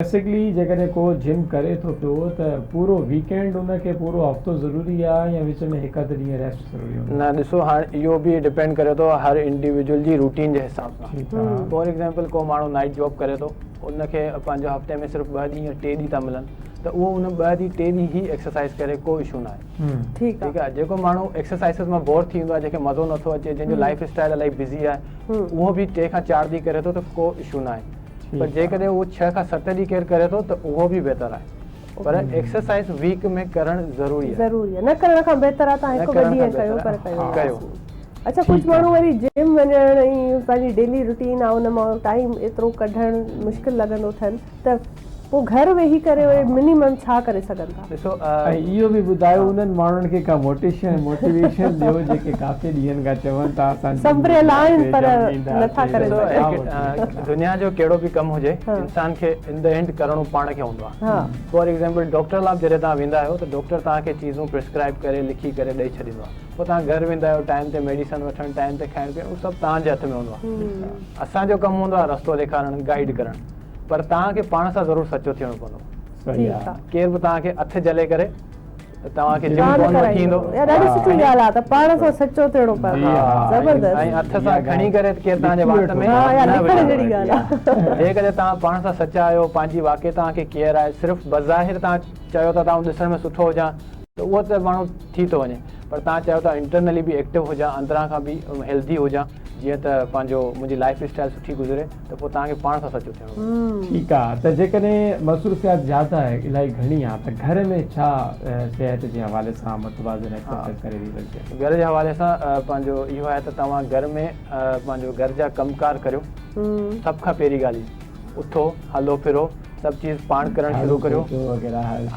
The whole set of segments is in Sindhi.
بيسڪلي جيڪڏهن ڪو جم ڪري ٿو پيو ته پورو ويڪينڊ ان کي پورو هفتو ضروري آ يا وچ ۾ هڪ اڌ ڏينهن ريسٽ ضروري هوندو آ؟ نه ڏسو هاڻ اهو به ڊپينڊ ڪري ٿو هر انڊيويڊيول جي روٽين جي حساب سان ٺيڪ آ. فار ايگزامپل ڪو ماڻهو نائيٽ جاب ڪري ٿو ان کي پنهنجو هفتي ۾ صرف ٻه ڏينهن يا ٽي ڏينهن ٿا ملن ته اهو ان ٻه ڏينهن ٽي ڏينهن هي ايڪسرسائز ڪري ڪو اشو نه آهي ٺيڪ آ جيڪو ماڻهو ايڪسرسائزز مان بور ٿي ويندو آ جنهن کي مزو نٿو اچي جنهن جو لائيف اسٽائيل الائي بزي آهي اهو به ٽي کان چار ڏينهن ڪري ٿو ته ڪو اشو نه آهي پر جيڪڏهن اهو ڇهه کان ست ڏينهن ڪير ڪري ٿو ته اهو به بهتر آهي پر ايڪسرسائز ويڪ ۾ ڪرڻ ضروري آهي ضروري آهي نه ڪرڻ کان بهتر آهي تان هڪ ٻه ڏينهن ڪيو پر ڪيو اڇا ڪجهه ماڻهو وري جم وڃڻ ۽ پنهنجي ڊيلي روٽين آهي ان مان ٽائيم ايترو ڪڍڻ مشڪل لڳندو اٿن ته پوء گهر ويهي ڪري منيمم ڇا ڪري سگهن ٿا ۽ اهو به ٻڌايو انهن ماڻهن کي ڪا موٽيشن Motivation ڏيو جيڪي ڪافي ڏينهن کان چون ٿا اسان جي سڀ ريل آهن پر نٿا ڪري سگهن. دنيا جو ڪهڙو به ڪم هجي انسان کي ان دي اينڊ ڪرڻو پاڻ کي هوندو آهي فار ايگزيمپل ڊاڪٽر لاء به جڏهن توهان ويندا آهيو ته ڊاڪٽر توهان کي چيزون پرسڪرائب ڪري لکي ڪري ڏئي ڇڏيندو آهي پوء توهان گهر ويندا آهيو ٽائيم تي ميڊيسن وٺڻ ٽائيم تي کائڻ پيئڻ اهو سڀ توهان جي هٿ ۾ هوندو آهي اسان جو ڪم هوندو آهي رستو ڏيکارڻ گائيڊ ڪرڻ پر توهان کي پاڻ سان ضرور سچو ٿيڻو پوندو. صحيح آ ڪير به توهان کي اک جهلي ڪري توهان کي جم ڪون وٺي ايندو اها ڏاڍي سٺي ڳالهه آ ته پاڻ سان سچو ٿيڻو پوندو آ زبردست ۽ اٿ سان کڻي ڪري ڪير توهان جي وات ۾ ها نه وڙهڻ جهڙي ڳالهه آ جيڪڏهن توهان پاڻ سان سچا آهيو پنهنجي واقعي توهان کي ڪيئر آهي صرف بظاهر توهان چيو ٿا ته آئون ڏسڻ ۾ سٺو هجان ته اهو ته ماڻهو ٿي ٿو وڃي پر توهان چيو ٿا انٽرنلي به ايڪٽو هجان اندران کان به هيلڌي هجان جيئن ته پنهنجو منهنجي لائف اسٽائل سٺي گذري ته پوء توهان کي پاڻ سان سچو ٿيڻو پوندو. ٺيڪ آ ته جيڪڏهن مصروفيات زياده ۽ الائي گهڻي آ ته گهر ۾ ڇا صحت جي حوالي سان متوازن ايڪسرسائيز ڪري رهي سگهجي؟ گهر جي حوالي سان پنهنجو اهو آهي ته توهان گهر ۾ پنهنجو گهر جا ڪم ڪار ڪريو سڀ کان پهرين ڳالهه اهي اٿو هلو ڦرو سڀ چيز پاڻ ڪرڻ شروع ڪريو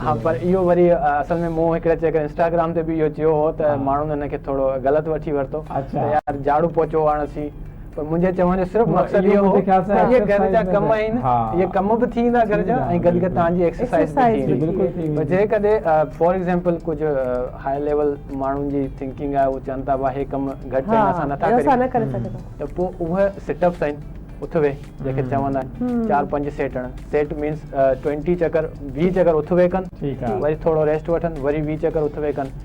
ها پر اهو وري اصل ۾ مون هڪڙي چڪر انسٽاگرام تي به اهو چيو هو ته ماڻهن ان کي ٿورو غلط وٺي ورتو ته يار جاڙو پوچو هڻسين پر منهنجي چوڻ جو صرف مقصد اهو هو ته اهي گهر جا ڪم آهن، اهي ڪم به ٿي ويندا گهر جا ۽ گڏ گڏ توهان جي ايڪسرسائز به ٿي ويندي. پر جيڪڏهن فار ايگزامپل ڪجهه هاء ليول ماڻهن جي ٿنڪنگ آهي، هو چون ٿا ڀاء هي ڪم گهٽ آهن، اسان نه ٿا ڪري سگهون، ته پوء اهي سٽ اپس آهن، اٿ ويهه جنهن کي چوندا آهن، چار پنج سيٽ هڻن، سيٽ مينس ٽوئنٽي چڪر، ويهه چڪر اٿ ويهه ڪن، وري ٿورو ريسٽ وٺن، وري ويهه چڪر اٿ ويهه ڪن.